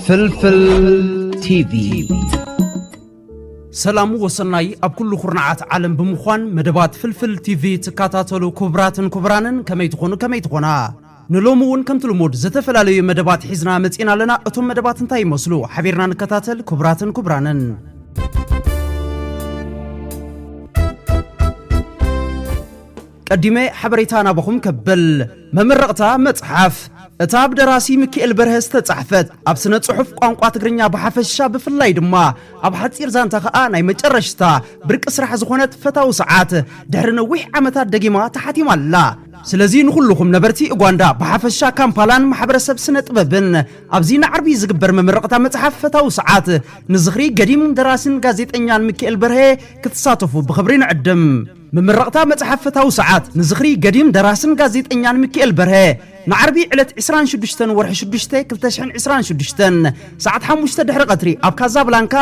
ፍልፍል ቲቪ ሰላም ወሰናይ ኣብ ኩሉ ኩርናዓት ዓለም ብምዃን መደባት ፍልፍል ቲቪ ትከታተሉ ክቡራትን ክቡራንን ከመይ ትኾኑ ከመይ ትኾና ንሎሚ እውን ከምቲ ልሙድ ዝተፈላለዩ መደባት ሒዝና መፂእና ኣለና። እቶም መደባት እንታይ ይመስሉ? ሓቢርና ንከታተል ክቡራትን ክቡራንን። ቀዲመ ሓበሬታ ናባኹም ከብል መመረቕታ መፅሓፍ እታ ብደራሲ ምክኤል በርሀ ዝተጻሕፈት ኣብ ስነ ጽሑፍ ቋንቋ ትግርኛ ብሓፈሻ ብፍላይ ድማ ኣብ ሓጺር ዛንታ ከኣ ናይ መጨረሽታ ብርቂ ስራሕ ዝኾነት ፈታዊ ሰዓት ድሕሪ ነዊሕ ዓመታት ደጊማ ተሓቲማ ኣላ። ስለዚ ንኹሉኹም ነበርቲ ኡጓንዳ ብሓፈሻ ካምፓላን ማሕበረሰብ ስነ ጥበብን ኣብዚ ንዓርቢ ዝግበር መመረቕታ መጽሓፍ ፈታዊ ሰዓት ንዝኽሪ ገዲም ደራሲን ጋዜጠኛን ምኪኤል በርሀ ክትሳተፉ ብኽብሪ ንዕድም። መመረቕታ መጽሓፍ ፈታዊ ሰዓት ንዝኽሪ ገዲም ደራሲን ጋዜጠኛን ምኪኤል በርሀ ንዓርቢ ዕለት ዕስራን ሽዱሽተን ወርሒ ሽዱሽተ ክልተ ሽሕን ዕስራን ሽዱሽተን ሰዓት ሓሙሽተ ድሕሪ ቀትሪ ኣብ ካዛብላንካ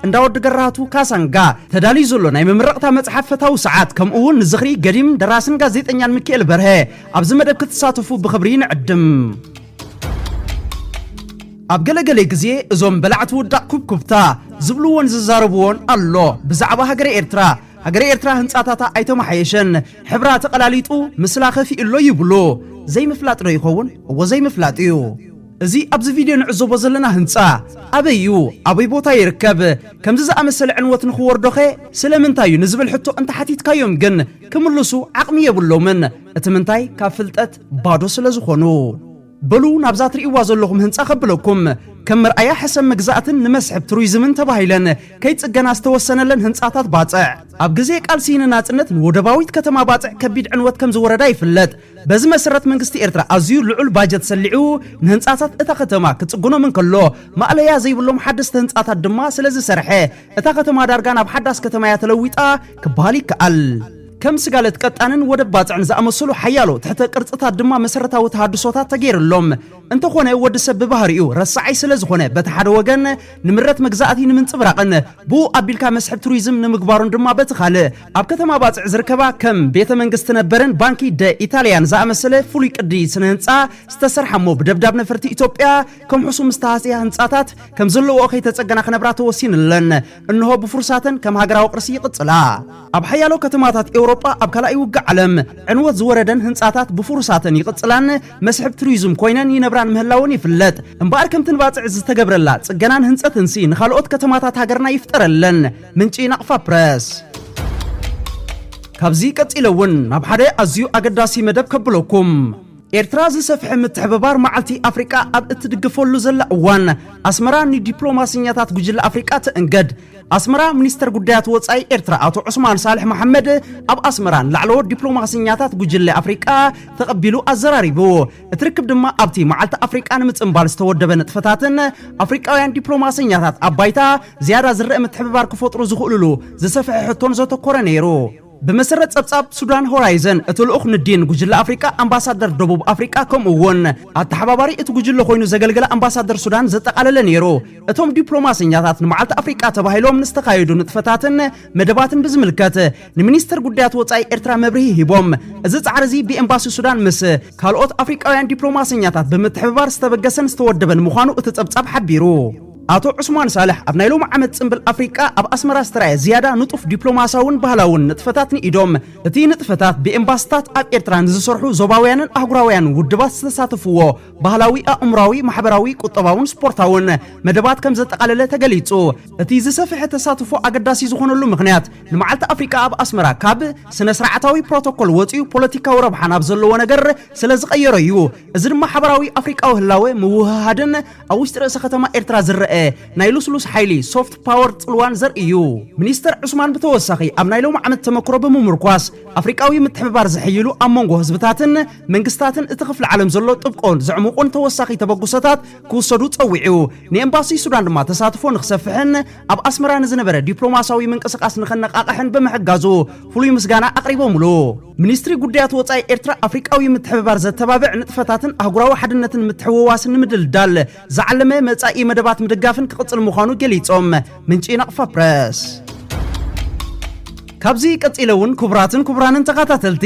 እንዳ ወዲ ገራህቱ ካሳንጋ ተዳልዩ ዘሎ ናይ መመረቕታ መጽሓፍ ፈታዊ ሰዓት ከምኡ እውን ንዝኽሪ ገዲም ደራስን ጋዜጠኛን ሚካኤል በርሀ ኣብዚ መደብ ክትሳተፉ ብኽብሪ ንዕድም ኣብ ገለገለ ግዜ እዞም በላዕቲ ውዳቕ ኩብኩብታ ዝብልዎን ዝዛረብዎን ኣሎ ብዛዕባ ሃገረ ኤርትራ ሃገረ ኤርትራ ህንፃታታ ኣይተመሓየሸን ሕብራ ተቐላሊጡ ምስላ ከፊኡ ኣሎ ይብሉ ዘይምፍላጥ ዶ ይኸውን እዎ ዘይምፍላጥ እዩ እዚ ኣብዚ ቪድዮ ንዕዘቦ ዘለና ህንጻ ኣበይ እዩ? ኣበይ ቦታ ይርከብ? ከምዚ ዝኣመሰለ ዕንወት ንኽወርዶኸ ስለምንታይ እዩ? ንዝብል ሕቶ እንተሓቲትካዮም ግን ክምልሱ ዓቕሚ የብሎምን። እቲ ምንታይ ካብ ፍልጠት ባዶ ስለዝኾኑ። በሉ ናብዛ ትርእይዋ ዘለኹም ህንጻ ከብለኩም። ከም መርኣያ ሕሰም መግዛእትን ንመስሕብ ቱሪዝምን ተባሂለን ከይጽገና ዝተወሰነለን ህንጻታት ባጽዕ፣ ኣብ ግዜ ቃልሲ ንናጽነት ንወደባዊት ከተማ ባጽዕ ከቢድ ዕንወት ከምዝወረዳ ይፍለጥ። በዚ መሰረት መንግስቲ ኤርትራ ኣዝዩ ልዑል ባጀት ሰሊዑ ንህንጻታት እታ ከተማ ክጽግኖም እንከሎ ማእለያ ዘይብሎም ሓደስቲ ህንጻታት ድማ ስለዝሰርሐ እታ ከተማ ዳርጋ ናብ ሓዳስ ከተማ እያ ተለዊጣ ክበሃል ይከኣል። ከም ስጋለት ቀጣንን ወደብ ባጽዕን ዝኣመሰሉ ሓያሎ ትሕተ ቅርጽታት ድማ መሰረታዊ ተሃድሶታት ተገይርሎም። እንተኾነ ወዲ ሰብ ብባህሪኡ ረሳዓይ ስለዝኾነ በቲ ሓደ ወገን ንምረት መግዛእቲ ንምንጽብራቕን ብኡ ኣቢልካ መስሕብ ቱሪዝም ንምግባሩን ድማ በቲ ካልእ ኣብ ከተማ ባጽዕ ዝርከባ ከም ቤተ መንግስቲ ነበርን ባንኪ ደ ኢታልያን ዝኣመሰለ ፍሉይ ቅዲ ስነ ህንጻ ዝተሰርሓ እሞ ብደብዳብ ነፈርቲ ኢትዮጵያ ከምሕሱ ምስ ተሃስያ ህንጻታት ከም ዘለውኦ ከይተጸገና ክነብራ ተወሲንለን እንሆ ብፍሩሳተን ከም ሃገራዊ ቅርሲ ይቕጽላ። ኣብ ሓያሎ ከተማታት ኤውሮጳ ኣብ ካልኣይ ውግእ ዓለም ዕንወት ዝወረደን ህንጻታት ብፍሩሳተን ይቕጽላን መስሕብ ቱሪዝም ኮይነን ይነብራን ምህላወን ይፍለጥ። እምበኣር ከምቲ ንባጽዕ ዝተገብረላ ጽገናን ህንጸትንሲ ንኻልኦት ከተማታት ሃገርና ይፍጠረለን። ምንጪ ናቕፋ ፕረስ ካብዚ ቀጺለ እውን ናብ ሓደ ኣዝዩ ኣገዳሲ መደብ ከብለኩም ኤርትራ ዝሰፍሐ ምትሕብባር መዓልቲ ኣፍሪቃ ኣብ እትድግፈሉ ዘላ እዋን ኣስመራ ንዲፕሎማስኛታት ጉጅለ ኣፍሪቃ ትእንገድ ኣስመራ ሚኒስተር ጉዳያት ወፃኢ ኤርትራ ኣቶ ዑስማን ሳልሕ መሓመድ ኣብ ኣስመራ ንላዕለዎት ዲፕሎማስኛታት ጉጅለ ኣፍሪቃ ተቐቢሉ ኣዘራሪቡ እቲ ርክብ ድማ ኣብቲ መዓልቲ ኣፍሪቃ ንምጽንባል ዝተወደበ ንጥፈታትን ኣፍሪቃውያን ዲፕሎማሰኛታት ኣብ ባይታ ዝያዳ ዝረአ ምትሕብባር ክፈጥሩ ዝኽእሉሉ ዝሰፍሐ ሕቶን ዘተኮረ ነይሩ። ብመሰረት ጸብጻብ ሱዳን ሆራይዘን እቲ ልኡኽ ንዲን ጉጅለ ኣፍሪቃ ኣምባሳደር ደቡብ ኣፍሪቃ ከምኡ እውን ኣተሓባባሪ እቲ ጉጅለ ኮይኑ ዘገልገለ ኣምባሳደር ሱዳን ዘጠቓለለ ነይሩ። እቶም ዲፕሎማሰኛታት ንመዓልቲ ኣፍሪቃ ተባሂሎም ንዝተኻየዱ ንጥፈታትን መደባትን ብዝምልከት ንሚኒስተር ጉዳያት ወፃኢ ኤርትራ መብርሂ ሂቦም። እዚ ጻዕሪ እዚ ብኤምባሲ ሱዳን ምስ ካልኦት ኣፍሪቃውያን ዲፕሎማሰኛታት ብምትሕብባር ዝተበገሰን ዝተወደበን ምዃኑ እቲ ጸብጻብ ሓቢሩ። ኣቶ ዑስማን ሳልሕ ኣብ ናይ ሎሚ ዓመት ጽምብል ኣፍሪቃ ኣብ ኣስመራ ዝተራእየ ዝያዳ ንጡፍ ዲፕሎማስያውን ባህላውን ንጥፈታት ንኢዶም። እቲ ንጥፈታት ብኤምባስታት ኣብ ኤርትራ ንዝሰርሑ ዞባውያንን ኣህጉራውያንን ውድባት ዝተሳተፍዎ ባህላዊ ኣእምራዊ ማሕበራዊ ቁጠባውን ስፖርታውን መደባት ከም ዘጠቓለለ ተገሊጹ እቲ ዝሰፍሐ ተሳትፎ ኣገዳሲ ዝኾነሉ ምክንያት ንመዓልቲ ኣፍሪቃ ኣብ ኣስመራ ካብ ስነ ስርዓታዊ ፕሮቶኮል ወፂኡ ፖለቲካዊ ረብሓ ናብ ዘለዎ ነገር ስለ ዝቐየሮ እዩ እዚ ድማ ሓበራዊ ኣፍሪቃዊ ህላወ ምውህሃድን ኣብ ውሽጢ ርእሰ ከተማ ኤርትራ ዝረአ ናይ ልስሉስ ሓይሊ ሶፍት ፓወር ጽልዋን ዘርኢ እዩ ሚኒስተር ዑስማን ብተወሳኺ ኣብ ናይ ሎሚ ዓመት ተመክሮ ብምምርኳስ ኣፍሪቃዊ ምትሕብባር ዝሕይሉ ኣብ መንጎ ህዝብታትን መንግስታትን እቲ ክፍሊ ዓለም ዘሎ ጥብቆን ዘዕሙቑን ተወሳኺ ተበግሶታት ክውሰዱ ጸዊዑ። ንኤምባሲ ሱዳን ድማ ተሳትፎ ንክሰፍሕን ኣብ ኣስመራ ንዝነበረ ዲፕሎማስያዊ ምንቅስቓስ ንኸነቓቕሕን ብምሕጋዙ ፍሉይ ምስጋና ኣቕሪቦምሉ። ሚኒስትሪ ጉዳያት ወጻኢ ኤርትራ ኣፍሪቃዊ ምትሕብባር ዘተባብዕ ንጥፈታትን ኣህጉራዊ ሓድነትን ምትሕውዋስን ንምድልዳል ዝዓለመ መጻኢ መደባት ምድጋፍን ክቕጽል ምዃኑ ገሊጾም። ምንጪ ናቕፋ ፕረስ። ካብዚ ቀጺለ እውን ክቡራትን ክቡራንን ተኻታተልቲ፣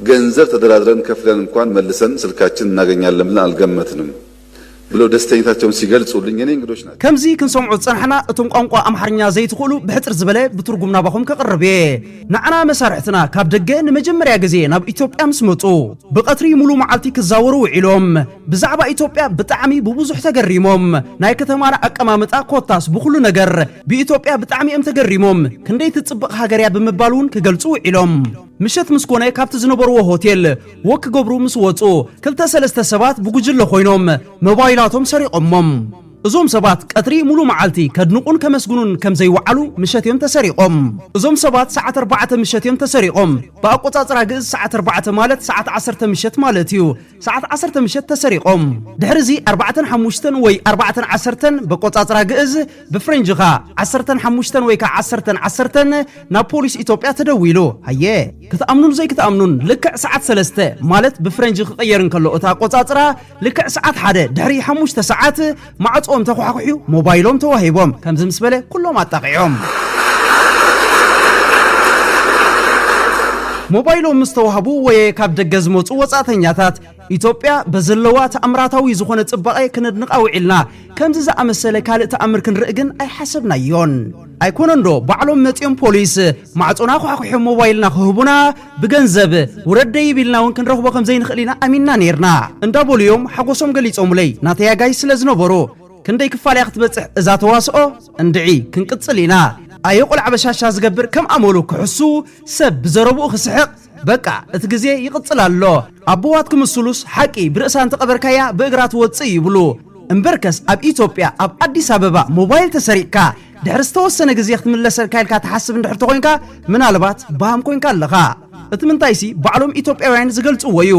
ገንዘብ ተደራድረን ከፍለን እንኳን መልሰን ስልካችን እናገኛለን ብለን ኣልገመትንም ብለው ደስተኝታቸውን ሲገልፁልኝ የኔ እንግዶች ናቸው። ከምዚ ክንሰምዖ ዝጸናሕና እቶም ቋንቋ ኣምሓርኛ ዘይትኽእሉ ብሕጽር ዝበለ ብትርጉም ናባኹም ከቕርብ እየ። ንዓና መሳርሕትና ካብ ደገ ንመጀመርያ ግዜ ናብ ኢትዮጵያ ምስ መጹ ብቐትሪ ሙሉእ መዓልቲ ክዛወሩ ውዒሎም። ብዛዕባ ኢትዮጵያ ብጣዕሚ ብቡዙሕ ተገሪሞም። ናይ ከተማና ኣቀማምጣ ኮታስ ብኹሉ ነገር ብኢትዮጵያ ብጣዕሚ እዮም ተገሪሞም። ክንደይ ትጽብቕ ሃገር እያ ብምባል ውን ክገልጹ ውዒሎም። ምሸት ምስ ኮነ ካብቲ ዝነበርዎ ሆቴል ወክ ክገብሩ ምስ ወጹ ክልተ ሰለስተ ሰባት ብጉጅለ ኮይኖም መባይላቶም ሰሪቖሞም። እዞም ሰባት ቀትሪ ሙሉእ መዓልቲ ከድንቑን ከመስግኑን ከም ዘይወዓሉ ምሸት እዮም ተሰሪቖም። እዞም ሰባት ሰዓት ኣርባዕተ ምሸት እዮም ተሰሪቖም። ብኣቆጻጽራ ግእዝ ሰዓት ኣርባዕተ ማለት ሰዓት ዓሰርተ ምሸት ማለት እዩ። ሰዓት ዓሰርተ ምሸት ተሰሪቖም። ድሕሪ እዚ ኣርባዕተን ሓሙሽተን ወይ ኣርባዕተን ዓሰርተን በቆጻጽራ ግእዝ ብፍሬንጅ ኸኣ ዓሰርተን ሓሙሽተን ወይ ከዓ ዓሰርተን ዓሰርተን ናብ ፖሊስ ኢትዮጵያ ተደዊሉ ሃየ ክትኣምኑን ዘይክትኣምኑን ልክዕ ሰዓት ሰለስተ ማለት ብፍሬንጅ ክቕየር እንከሎ እታ ኣቆፃፅራ ልክዕ ሰዓት ሓደ ድሕሪ ሓሙሽተ ሰዓት ማዕፅኦም ተኳሕኩሕዩ ሞባይሎም ተዋሂቦም ከምዚ ምስ በለ ኩሎም ኣጣቒዖም ሞባይሎም ምስ ተዋህቡ ወየ ካብ ደገ ዝመፁ ወፃእተኛታት ኢትዮጵያ በዘለዋ ተኣምራታዊ ዝኾነ ጽባቐ ክነድንቓ ውዒልና ከምዚ ዝኣመሰለ ካልእ ተኣምር ክንርኢ ግን ኣይሓሰብናዮን። ኣይኮነንዶ ባዕሎም መጺኦም ፖሊስ ማዕጾና ኳሕኲሖም ሞባይልና ክህቡና ብገንዘብ ውረድ ደይብ ኢልና እውን ክንረኽቦ ከም ዘይንኽእል ኢና ኣሚንና ነይርና እንዳበሉ እዮም ሓጎሶም ገሊጾሙለይ ናተይ ኣጋይሽ ስለ ዝነበሩ። ክንደይ ክፋል እያ ክትበጽሕ እዛ ተዋስኦ? እንድዒ ክንቅጽል ኢና። ኣየ ቆልዓ በሻሻ ዝገብር ከም ኣመሉ ክሕሱ ሰብ ብዘረብኡ ክስሕቕ በቃ እቲ ግዜ ይቅጽል ኣሎ ኣቦዋት ክምስሉስ ሓቂ ብርእሳ እንተቀበርካያ ብእግራ ትወጽእ ይብሉ እምበርከስ ኣብ ኢትዮጵያ ኣብ ኣዲስ ኣበባ ሞባይል ተሰሪቅካ ድሕሪ ዝተወሰነ ግዜ ክትምለሰልካ ኢልካ ትሓስብ እንድሕር ተኮንካ ምናልባት ባሃም ኮንካ ኣለካ እቲ ምንታይሲ ባዕሎም ኢትዮጵያውያን ዝገልጽዎ እዩ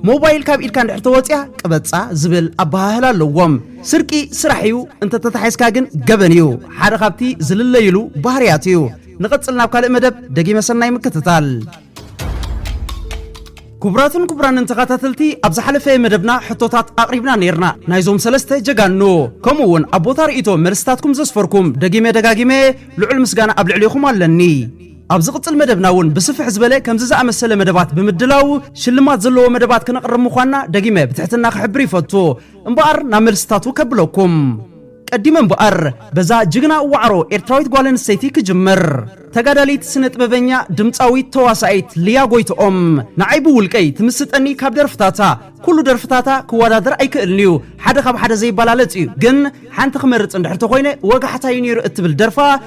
ሞባይል ካብ ኢድካ እንድሕር ተወጽያ ቅበጻ ዝብል ኣበሃህላ ኣለዎም ስርቂ ስራሕ እዩ እንተተታሒዝካ ግን ገበን እዩ ሓደ ካብቲ ዝልለይሉ ባህርያት እዩ ንቐጽል ናብ ካልእ መደብ ደጊመ ሰናይ ምክትታል ክቡራትን ክቡራንን ተኸታተልቲ ኣብ ዝሓለፈ መደብና ሕቶታት ኣቕሪብና ነይርና ናይዞም ሰለስተ ጀጋኑ ከምኡ እውን ኣብ ቦታ ርእቶ መልስታትኩም ዘስፈርኩም ደጊመ ደጋጊመ ልዑል ምስጋና ኣብ ልዕሊኹም ኣለኒ ኣብ ዝቕፅል መደብና እውን ብስፍሕ ዝበለ ከምዚ ዝኣመሰለ መደባት ብምድላው ሽልማት ዘለዎ መደባት ክነቕርብ ምዃንና ደጊመ ብትሕትና ክሕብር ይፈቱ እምበኣር ናብ መልስታቱ ከብለኩም ቀዲመ እምበኣር በዛ ጅግና ዋዕሮ ኤርትራዊት ጓል ኣንስተይቲ ክጅምር። ተጋዳሊት ስነጥበበኛ ድምጻዊት ተዋሳኢት ልያ ጎይትኦም ንዓይ ብውልቀይ ትምስጠኒ ካብ ደርፍታታ ኩሉ ደርፍታታ ክወዳደር ኣይክእልን'ዩ ሓደ ካብ ሓደ ዘይበላለጽ እዩ ግን ሓንቲ ክመርጽ እንድሕር ተኾይነ ወጋሕታ'ዩ ኔሩ እትብል ደርፋ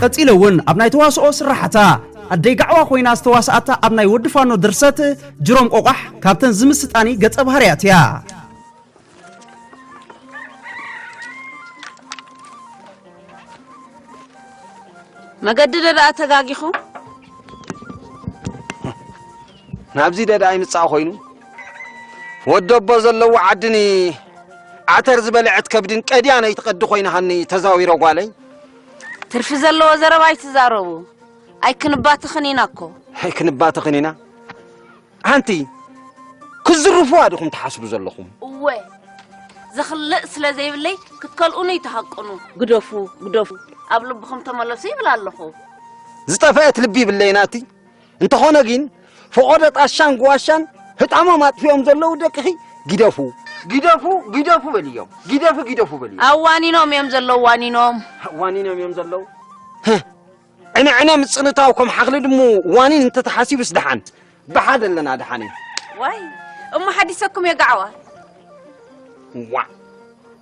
ቀጺለ እውን ኣብ ናይ ተዋስኦ ስራሓታ ኣደይ ጋዕዋ ኮይና ዝተዋስኣታ ኣብ ናይ ወዲ ፋኖ ድርሰት ጅሮም ቆቋሕ ካብተን ዝምስጣኒ ገጸ ባህርያት እያ መገዲ ደኣ ተጋጊኹ ናብዚ ደዳ ይምጻእ ኮይኑ ወደቦ ዘለዎ ዓድኒ ዓተር ዝበልዐት ከብድን ቀድያ ነይትቐዲ ኮይናሃኒ ተዛዊረ ጓለይ ትርፊ ዘለዎ ዘረባ ኣይትዛረቡ ኣይክንባትኽን ኢና እኮ። ኣይክንባትኽን ኢና ሓንቲ ክዝርፉዋ ዲኹም ትሓስቡ ዘለኹም? እወ ዘኽልእ ስለ ዘይብለይ ክትከልኡኑ ይተሃቅኑ። ግደፉ ግደፉ ኣብ ልብኹም ተመለሱ ይብል ኣለኹ። ዝጠፈአት ልቢ ይብለይ ናቲ እንተኾነ ግን ፈቖዶ ጣሻን ጉዋሻን ህጣሞም ኣጥፊኦም ዘለዉ ደቅኺ ግደፉ ግደፉ ግደፉ በልዮም ግደፉ ግደፉ በልዮም ኣብ ዋኒኖም እዮም ዘለዉ ዋኒኖም ዋኒኖም እዮም ዘለዉ ዕነ ዕነ ምፅንታው ከም ሓኽሊ ድሙ ዋኒን እንተተሓሲቡስ ደሓን ብሓደ ኣለና ደሓን እዩ ዋይ እሞ ሓዲሰኩም የጋዕዋ ዋዕ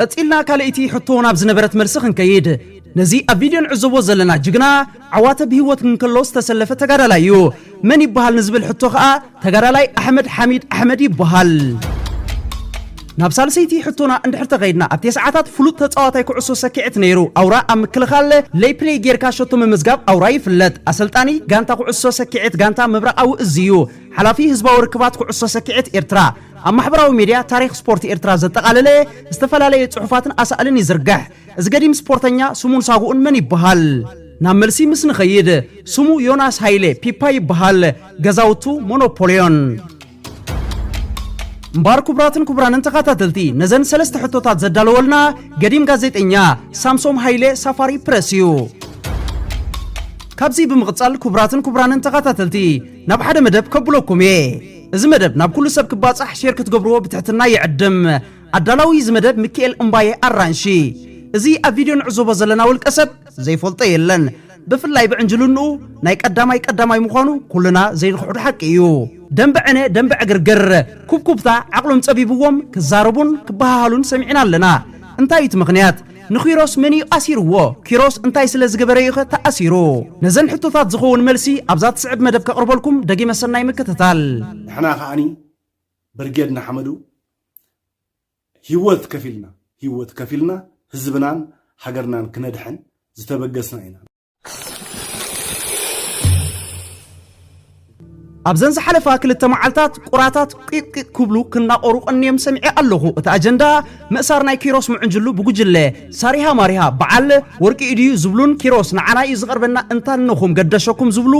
ቀጺልና ካልኣይቲ ሕቶ ናብ ዝነበረት መልሲ ክንከይድ፣ ነዚ ኣብ ቪድዮ ንዕዘቦ ዘለና ጅግና ዓዋተ ብሂወት እንከሎ ዝተሰለፈ ተጋዳላይ እዩ። መን ይበሃል ንዝብል ሕቶ ከኣ ተጋዳላይ ኣሕመድ ሓሚድ ኣሕመድ ይበሃል። ናብ ሳልሰይቲ ሕቶና እንድሕር ተኸይድና ኣብ ቴስዓታት ፍሉጥ ተጻዋታይ ኩዕሶ ሰኪዔት ነይሩ ኣውራ ኣብ ምክልኻል ለይ ፕለይ ጌርካ ሸቶ ምምዝጋብ ኣውራ ይፍለጥ ኣሰልጣኒ ጋንታ ኩዕሶ ሰኪዔት ጋንታ ምብራቓዊ እዝ እዩ ሓላፊ ህዝባዊ ርክባት ኩዕሶ ሰኪዔት ኤርትራ ኣብ ማሕበራዊ ሚድያ ታሪኽ ስፖርት ኤርትራ ዘጠቓለለ ዝተፈላለየ ጽሑፋትን ኣሳእልን ይዝርግሕ። እዚ ገዲም ስፖርተኛ ስሙን ሳጉኡን መን ይበሃል? ናብ መልሲ ምስ ንኸይድ፣ ስሙ ዮናስ ሃይለ፣ ፒፓ፣ ይበሃል። ገዛውቱ ሞኖፖልዮን። እምበኣር ክቡራትን ክቡራንን ተኻታተልቲ ነዘን ሰለስተ ሕቶታት ዘዳለወልና ገዲም ጋዜጠኛ ሳምሶም ሃይለ ሳፋሪ ፕረስ እዩ። ካብዚ ብምቕጻል ክቡራትን ክቡራንን ተኻታተልቲ ናብ ሓደ መደብ ከብለኩም እየ። እዚ መደብ ናብ ኩሉ ሰብ ክባጻሕ ሼር ክትገብርዎ ብትሕትና ይዕድም። ኣዳላዊ እዚ መደብ ምክኤል እምባየ ኣራንሺ። እዚ ኣብ ቪድዮ ንዕዘቦ ዘለና ውልቀ ሰብ ዘይፈልጦ የለን። ብፍላይ ብዕንጅልንኡ ናይ ቀዳማይ ቀዳማይ ምዃኑ ኩልና ዘይንኽሕዶ ሓቂ እዩ። ደምበ ዕነ ደምበ ዕግርግር፣ ኩብኩብታ፣ ዓቕሎም ጸቢብዎም ክዛረቡን ክበሃሃሉን ሰሚዕና ኣለና። እንታይ እዩ እቲ ምኽንያት? ንኪሮስ መን'ዩ ኣሲርዎ? ኪሮስ እንታይ ስለ ዝገበረ'ዩኸ ተኣሲሩ? ነዘን ሕቶታት ዝኸውን መልሲ ኣብዛ ትስዕብ መደብ ከቕርበልኩም ደጊመ ሰናይ ምክትታል። ንሕና ከኣኒ ብርጌድ ንሓመዱ ሂወት ከፊልና ሂወት ከፊልና ህዝብናን ሃገርናን ክነድሕን ዝተበገስና ኢና። ኣብዘን ዝሓለፋ ክልተ መዓልታት ቁራታት ቂቅቂቅ ክብሉ ክናቆሩ ቀንዮም ሰሚዐ ኣለኹ እቲ ኣጀንዳ ምእሳር ናይ ኪሮስ ምዕንጅሉ ብጉጅለ ሳሪሃ ማሪሃ በዓል ወርቂ ኢድዩ ዝብሉን ኪሮስ ንዓና እዩ ዝቐርበና እንታነኹም ገደሸኩም ዝብሉ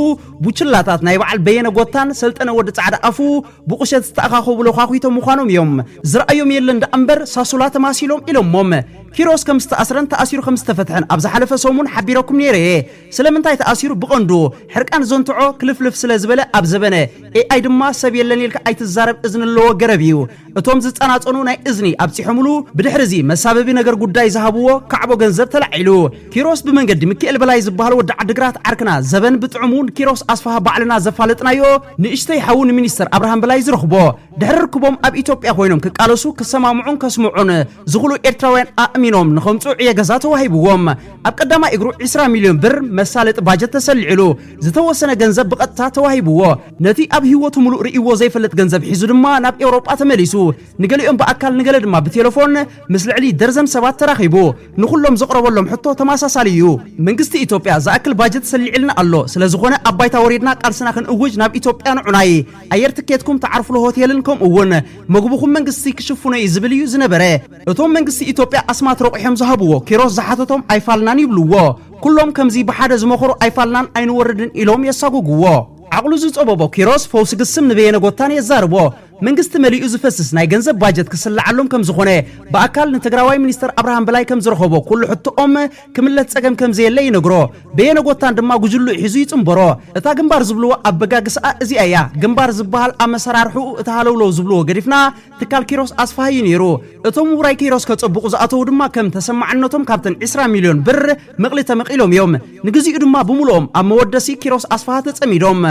ቡችላታት ናይ በዓል በየነ ጎታን ሰልጠነ ወዲ ጻዕዳ ኣፉ ብቑሸት ዝተኣኻኸቡ ለዃኺቶም ምዃኖም እዮም ዝረኣዮም የለን ደኣ እምበር ሳሱላ ተማሲሎም ኢሎሞም ኪሮስ ከም ዝተኣስረን ተኣሲሩ ከም ዝተፈትሐን ኣብ ዝሓለፈ ሰሙን ሓቢረኩም ነይረ እየ። ስለምንታይ ተኣሲሩ ብቐንዱ ሕርቃን ዘንትዖ ክልፍልፍ ስለ ዝበለ ኣብ ዘበነ AI ድማ ሰብ የለን ኢልካ ኣይትዛረብ እዝኒ ኣለዎ ገረብ እዩ እቶም ዝጸናጸኑ ናይ እዝኒ ኣብጺሖምሉ ብድሕሪ እዚ መሳበቢ ነገር ጉዳይ ዝሃብዎ ካዕቦ ገንዘብ ተላዒሉ ኪሮስ ብመንገዲ ምኪኤል በላይ ዝበሃል ወዲ ዓድግራት ዓርክና ዘበን ብጥዑሙ ንኪሮስ ኣስፍሃ ባዕልና ዘፋለጥናዮ ንእሽተይ ሓዉ ንሚኒስተር ኣብርሃም በላይ ዝረኽቦ ድሕሪ ርክቦም ኣብ ኢትዮጵያ ኮይኖም ክቃለሱ ክሰማምዑን ከስምዑን ዝኹሉ ኤርትራውያን ኣእሚኖም ንኸምጽኡ ዕየ ገዛ ተዋሂብዎም ኣብ ቀዳማይ እግሩ 20 ሚልዮን ብር መሳለጢ ባጀት ተሰሊዕሉ ዝተወሰነ ገንዘብ ብቐጥታ ተዋሂብዎ ነቲ ኣብ ህይወቱ ምሉእ ርእይዎ ዘይፈልጥ ገንዘብ ሒዙ ድማ ናብ ኤውሮጳ ተመሊሱ ንገሊኦም ብኣካል ንገለ ድማ ብቴለፎን ምስ ልዕሊ ደርዘን ሰባት ተራኺቡ ንኹሎም ዘቕረበሎም ሕቶ ተመሳሳሊ እዩ መንግስቲ ኢትዮጵያ ዝኣክል ባጀት ሰሊዕልና ኣሎ ስለዝኾነ ኣብ ባይታ ወሪድና ቃልስና ክንእውጅ ናብ ኢትዮጵያ ንዑናይ ኣየር ትኬትኩም ትዓርፍሉ ሆቴልን ከምኡ እውን መግብኹም መንግስቲ ክሽፍኖ እዩ ዝብል እዩ ዝነበረ እቶም መንግስቲ ኢትዮጵያ ኣስማት ረቑሖም ዝሃብዎ ኪሮስ ዝሓተቶም ኣይፋልናን ይብልዎ ኩሎም ከምዚ ብሓደ ዝመኸሩ ኣይፋልናን ኣይንወርድን ኢሎም የሳጉግዎ ዓቕሉ ዝጸበቦ ኪሮስ ፈውሲ ግስም ንበየነ ጎታን የዛርቦ መንግስቲ መሊኡ ዝፈስስ ናይ ገንዘብ ባጀት ክስልዓሎም ከምዝኾነ ብኣካል ንትግራዋይ ሚኒስተር ኣብርሃም በላይ ከምዝረኸቦ ኩሉ ሕቶኦም ክምለስ ጸገም ከም ዘየለ ይነግሮ። በየነጎታን ድማ ጉጅልኡ ሒዙ ይጽንበሮ። እታ ግንባር ዝብልዎ ኣበጋግስኣ እዚኣ እያ። ግንባር ዝበሃል ኣመሰራርሕኡ እቲ ሃለውለው ዝብልዎ ገዲፍና ትካል ኪሮስ ኣስፍሃ እዩ ነይሩ። እቶም ውራይ ኪሮስ ከጸብቑ ዝኣተዉ ድማ ከም ተሰማዕነቶም ካብተን ዕስራ ሚልዮን ብር ምቕሊ ተመቒሎም እዮም። ንግዚኡ ድማ ብምሉኦም ኣብ መወደሲ ኪሮስ ኣስፍሃ ተጸሚዶም።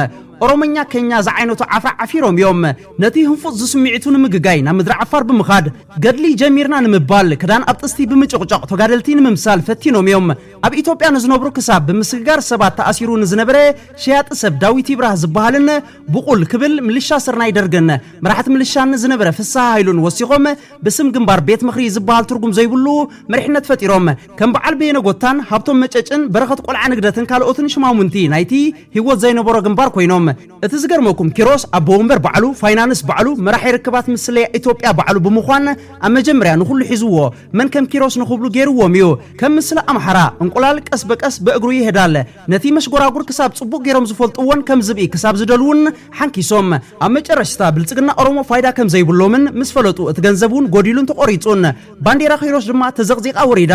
ኦሮመኛ፣ ኬኛ ዝዓይነቱ ዓፍራ ዓፊሮም እዮም። ነቲ ህንፉጽ ዝስምዒቱ ንምግጋይ ናብ ምድሪ ዓፋር ብምኻድ፣ ገድሊ ጀሚርና ንምባል ክዳን ኣብ ጥስቲ ብምጭቕጫቕ ተጋደልቲ ንምምሳል ፈቲኖም እዮም። ኣብ ኢትዮጵያ ንዝነብሩ ክሳብ ብምስግጋር ሰባት ተኣሲሩ ንዝነበረ ሸያጢ ሰብ ዳዊት ይብራህ ዝበሃልን ብቑል ክብል ምልሻ ስርናይ ደርግን መራሕቲ ምልሻን ዝነበረ ፍስሃ ሃይሉን ወሲኾም ብስም ግንባር ቤት ምኽሪ ዝበሃል ትርጉም ዘይብሉ መሪሕነት ፈጢሮም ከም በዓል በየነ ጎታን ሃብቶም መጨጭን በረኸት ቆልዓ ንግደትን ካልኦትን ሽማሙንቲ ናይቲ ሂወት ዘይነበሮ ግንባር ኮይኖም እቲ ዝገርመኩም ኪሮስ ኣቦ ወንበር ባዕሉ፣ ፋይናንስ ባዕሉ፣ መራሒ ርክባት ምስ ስለያ ኢትዮጵያ ባዕሉ ብምዃን ኣብ መጀመርያ ንኹሉ ሒዝዎ መን ከም ኪሮስ ንኽብሉ ገይርዎም እዩ። ከም ምስላ ኣምሓራ እንቁላል ቀስ በቀስ በእግሩ ይሄዳል። ነቲ መሽጎራጉር ክሳብ ፅቡቕ ገይሮም ዝፈልጥዎን ከም ዝብኢ ክሳብ ዝደልዉን ሓንኪሶም። ኣብ መጨረሽታ ብልፅግና ኦሮሞ ፋይዳ ከም ዘይብሎምን ምስ ፈለጡ እቲ ገንዘብ እውን ጎዲሉን ተቖሪፁን ባንዴራ ኪሮስ ድማ ተዘቕዚቓ ወሪዳ።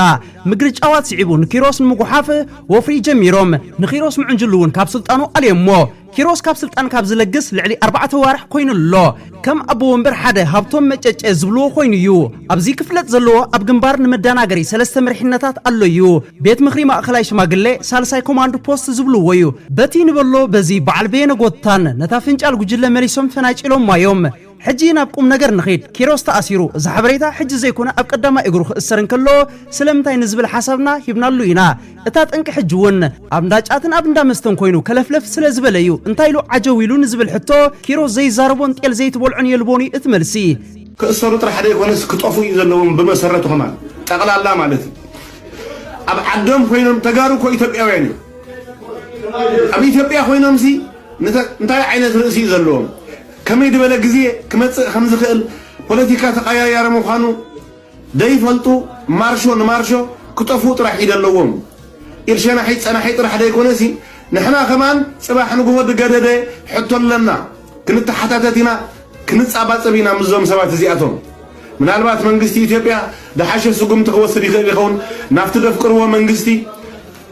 ምግርጫዋት ስዒቡ ንኪሮስ ንምጉሓፍ ወፍሪ ጀሚሮም። ንኪሮስ ምዕንጅሉ እውን ካብ ስልጣኑ ኣልዮሞ። ኪሮስ ካብ ስልጣን ካብ ዝለግስ ልዕሊ ኣርባዕተ ኣዋርሕ ኮይኑ ኣሎ። ከም ኣቦ ወንበር ሓደ ሃብቶም መጨጨ ዝብልዎ ኮይኑ እዩ። ኣብዚ ክፍለጥ ዘለዎ ኣብ ግንባር ንመዳናገሪ ሰለስተ መሪሕነታት ኣሎ እዩ። ቤት ምኽሪ ማእኸላይ ሽማግሌ፣ ሳልሳይ ኮማንድ ፖስት ዝብልዎ እዩ። በቲ ንበሎ በዚ በዓል በየነ ጎታን ነታ ፍንጫል ጉጅለ መሊሶም ፈናጪሎማ እዮም። ሕጂ ናብ ቁምነገር ንኺድ። ኪሮስ ተኣሲሩ እዚ ሓበሬታ ሕጂ ዘይኮነ ኣብ ቀዳማይ እግሩ ክእሰር እንከሎ ስለምንታይ ንዝብል ሓሳብና ሂብናሉ ኢና። እታ ጠንቂ ሕጂ እውን ኣብ እንዳ ጫትን ኣብ እንዳ መስተን ኮይኑ ከለፍለፍ ስለ ዝበለ እዩ። እንታይ ኢሉ ዓጀው ኢሉ ንዝብል ሕቶ ኪሮስ ዘይዛረቦን ጤል ዘይትበልዖን የልቦን እዩ እቲ መልሲ። ክእሰሩ ጥራሕ ዘይኮነስ ክጠፍኡ እዩ ዘለዎም ብመሰረቱ ከማን ጠቕላላ ማለት እዩ። ኣብ ዓዶም ኮይኖም ተጋሩ እኮ ኢትዮጵያውያን እዮም። ኣብ ኢትዮጵያ ኮይኖምሲ እንታይ ዓይነት ርእሲ እዩ ዘለዎም? ከመይ ድበለ ግዜ ክመጽእ ከምዝኽእል ፖለቲካ ተቀያያሪ ምዃኑ ደይፈልጡ ማርሾ ንማርሾ ክጠፍኡ ጥራሕ እዩ ደለዎም ኢድ ሸናሒት ጸናሒት ጥራሕ ደይኮነሲ ንሕና ከማን ጽባሕ ንግሆ ድገደደ ሕቶ ኣለና ክንተሓታተት ኢና ክንጻባጸብ ኢና ምስዞም ሰባት እዚኣቶም ምናልባት መንግስቲ ኢትዮጵያ ድሓሸ ስጉምቲ ክወስድ ይኽእል ይኸውን ናብቲ ደፍቅርዎ መንግስቲ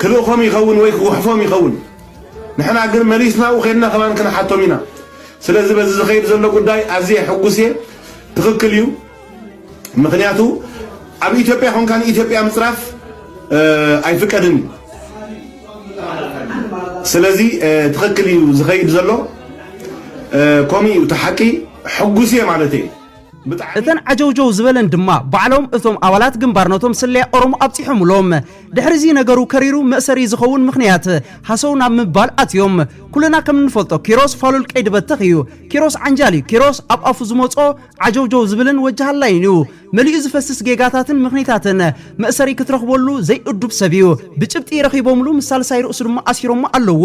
ክልእኾም ይኸውን ወይ ክጉሕፎም ይኸውን ንሕና ግን መሊስና ኣብኡ ከድና ከማን ክንሓቶም ኢና ስለዚ በዚ ዝኸይድ ዘሎ ጉዳይ ኣዝየ ሕጉስ እየ። ትኽክል እዩ። ምኽንያቱ ኣብ ኢትዮጵያ ኮንካ ንኢትዮጵያ ምፅራፍ ኣይፍቀድን እዩ። ስለዚ ትኽክል እዩ ዝኸይድ ዘሎ ከምኡ እዩ እቲ ሓቂ። ሕጉስ እየ ማለት እየ። እተን ዓጀውጀው ዝበለን ድማ ባዕሎም እቶም ኣባላት ግንባር ነቶም ስለያ ኦሮሞ ኣብጺሖምሎም። ድሕሪ'ዚ ነገሩ ከሪሩ መእሰሪ ዝኸውን ምኽንያት ሃሰው ናብ ምባል ኣትዮም። ኩልና ከም እንፈልጦ ኪሮስ ፋሉል ቀይዲ በተኽ እዩ። ኪሮስ ዓንጃል እዩ። ኪሮስ ኣብ ኣፉ ዝመጽኦ ዓጀውጀው ዝብልን ወጅ ሃላይን እዩ። መሊኡ ዝፈስስ ጌጋታትን ምኽኒታትን መእሰሪ ክትረኽበሉ ዘይእዱብ ሰብ እዩ። ብጭብጢ ረኺቦምሉ ምስ ሳልሳይ ርእሱ ድማ ኣሲሮሞ ኣለዉ።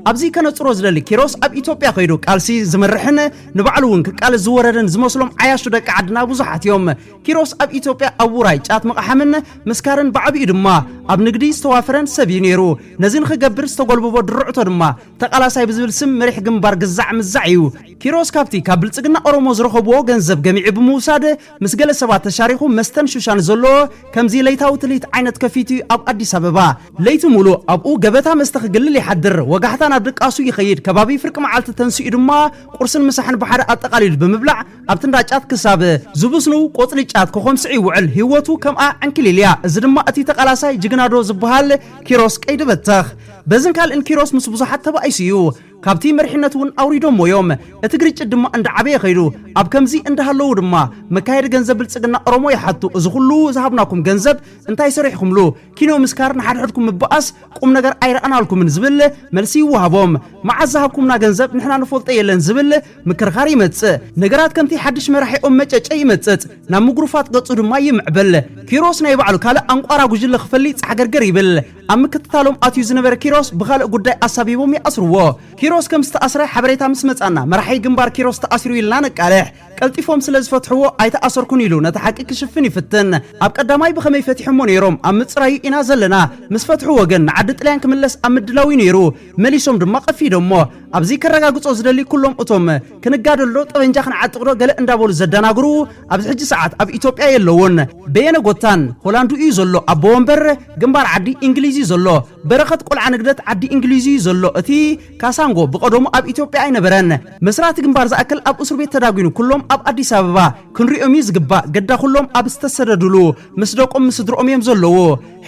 ኣብዚ ከነጽሮ ዝደሊ ኪሮስ ኣብ ኢትዮጵያ ከይዱ ቃልሲ ዝመርሕን፣ ንባዕሉ እውን ክቃለስ ዝወረደን ዝመስሎም ዓያሹ ደቂ ዓድና ብዙሓት እዮም። ኪሮስ ኣብ ኢትዮጵያ ኣብ ውራይ ጫት ምቕሓምን ምስካርን ብዓብይኡ ድማ ኣብ ንግዲ ዝተዋፈረን ሰብ እዩ ነይሩ። ነዚ ንኽገብር ዝተጎልበቦ ድርዕቶ ድማ ተቓላሳይ ብዝብል ስም መሪሕ ግንባር ግዛዕ ምዛዕ እዩ። ኪሮስ ካብቲ ካብ ብልፅግና ኦሮሞ ዝረኸቡዎ ገንዘብ ገሚዑ ብምውሳድ ምስ ገለ ሰባት ተሻሪኹ መስተን ሹሻን ዘለዎ ከምዚ ለይታዊ ትልሂት ዓይነት ከፊቱ እዩ ኣብ ኣዲስ ኣበባ ለይቲ ሙሉእ ኣብኡ ገበታ መስተ ክግልል ይሓድር፣ ወጋሕታ ናብ ድቃሱ ይኸይድ፣ ከባቢ ፍርቂ መዓልቲ ተንሲኡ ድማ ቁርስን ምሳሕን ብሓደ ኣጠቓሊሉ ብምብላዕ ኣብቲ እንዳ ጫት ክሳብ ዝብስኑ ቆፅሊ ጫት ከኾምስዕ ይውዕል፣ ህይወቱ ከምኣ ዕንክሊል እያ፣ እዚ ድማ እቲ ተቓላሳይ ጅግና ዶ ዝብሃል ኪሮስ ቀይዲ በተኽ በዝን ካልእን ኪሮስ ምስ ብዙሓት ተባኢሱ እዩ፣ ካብቲ መሪሕነት እውን ኣውሪዶሞ እዮም፣ እቲ ግርጭት ድማ እንዳዓበየ ከይዱ፣ ኣብ ከምዚ እንዳሃለዉ ድማ መካየዲ ገንዘብ ብልፅግና ኦሮሞ ይሓቱ፣ እዚ ኹሉ ዝሃብናኩም ገንዘብ እንታይ ሰሪሕኹምሉ? ኪኖ ምስካር፣ ንሓድሕድኩም ምብኣስ፣ ቁም ነገር ኣይረኣናልኩምን ዝብል መልሲ ይወሃቦም። መዓስ ዝሃብኩምና ገንዘብ ንሕና ንፈልጦ የለን ዝብል ምክርኻር ይመጽእ። ነገራት ከምቲ ሓድሽ መራሒኦም መጨጨ ይመጽጽ፣ ናብ ምጉርፋጥ ገጹ ድማ ይምዕብል። ኪሮስ ናይ ባዕሉ ካልእ ኣንቋራ ጉጅለ ክፈሊ ጻሕገርገር ይብል። ኣብ ምክትታሎም ኣትዩ ዝነበረ ኪሮስ ብኻልእ ጉዳይ ኣሳቢቦም ይኣስርዎ። ኪሮስ ከም ዝተኣስረ ሓበሬታ ምስ መጽኣና መራሒ ግንባር ኪሮስ ተኣሲሩ ኢልና ነቃልሕ። ቀልጢፎም ስለ ዝፈትሕዎ ኣይተኣሰርኩን ኢሉ ነቲ ሓቂ ክሽፍን ይፍትን። ኣብ ቀዳማይ ብኸመይ ፈቲሖሞ ነይሮም ኣብ ምጽራዩ ኢና ዘለና። ምስ ፈትሕዎ ግን ንዓዲ ጥልያን ክምለስ ኣብ ምድላው'ዩ ነይሩ። መሊሶም ድማ ቀፊዶሞ። ኣብዚ ከረጋግጾ ዝደሊ ኩሎም እቶም ክንጋደል'ዶ ጠበንጃ ክንዓጥቕዶ ገለ እንዳበሉ ዘደናግሩ ኣብዚ ሕጂ ሰዓት ኣብ ኢትዮጵያ የለዉን። በየነ ጎታን ሆላንድ'ዩ ዘሎ ኣቦ ወንበር ግንባር ዓዲ እንግሊዝ'ዩ ዘሎ። በረኸት ቆልዓ ንግደት ዓዲ እንግሊዝ'ዩ ዘሎ እቲ ካሳንጎ ብቀደሙ ኣብ ኢትዮጵያ ኣይነበረን መስራቲ ግንባር ዝኣክል ኣብ እሱርቤት ተዳጉኑ ኩሎም ኣብ ኣዲስ ኣበባ ክንሪኦም እዩ ዝግባእ ገዳ ኩሎም ኣብ ዝተሰደዱሉ ምስ ደቆም ምስ ስድርኦም እዮም ዘለዉ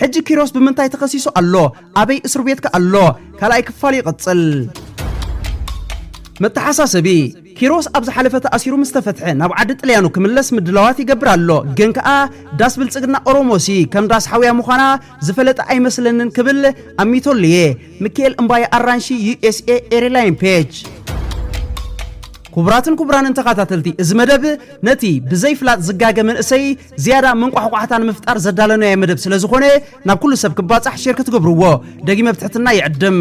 ሕጂ ኪሮስ ብምንታይ ተከሲሱ ኣሎ ኣበይ እሱርቤት ከ ኣሎ ካልኣይ ክፋል ይቅጽል። መተሓሳሰቢ፣ ኪሮስ ኣብ ዝሓለፈ ተኣሲሩ ምስ ተፈትሐ ናብ ዓዲ ጥልያኑ ክምለስ ምድላዋት ይገብር ኣሎ፣ ግን ከኣ ዳስ ብልጽግና ኦሮሞሲ ከም ዳስ ሓውያ ምዃና ዝፈለጠ ኣይመስለንን ክብል ኣሚቶሉ'የ። ምክኤል እምባየ ኣራንሺ ዩኤስኤ ኤርላይን ፔጅ ክቡራትን ክቡራንን ተኸታተልቲ እዚ መደብ ነቲ ብዘይ ፍላጥ ዝጋገ መንእሰይ ዝያዳ መንቋሕቋሕታ ንምፍጣር ዘዳለናዮ መደብ ስለ ዝኾነ ናብ ኩሉ ሰብ ክባጻሕ ሼር ክትገብርዎ ደጊመ ብትሕትና ይዕድም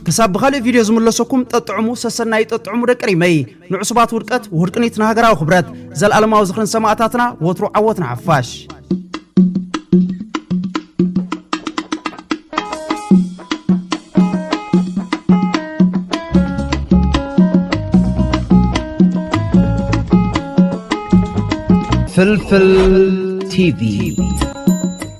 ክሳብ ብኻልእ ቪድዮ ዝምለሰኩም ጠጥዕሙ ሰሰናዩ ጠጥዕሙ ደቂ ሪመይ ንዕሱባት ውድቀት ውድቅኒት ንሃገራዊ ክብረት ዘለኣለማዊ ዝኽሪ ንሰማእታትና ወትሩ ዓወት ንሓፋሽ ፍልፍል ቲቪ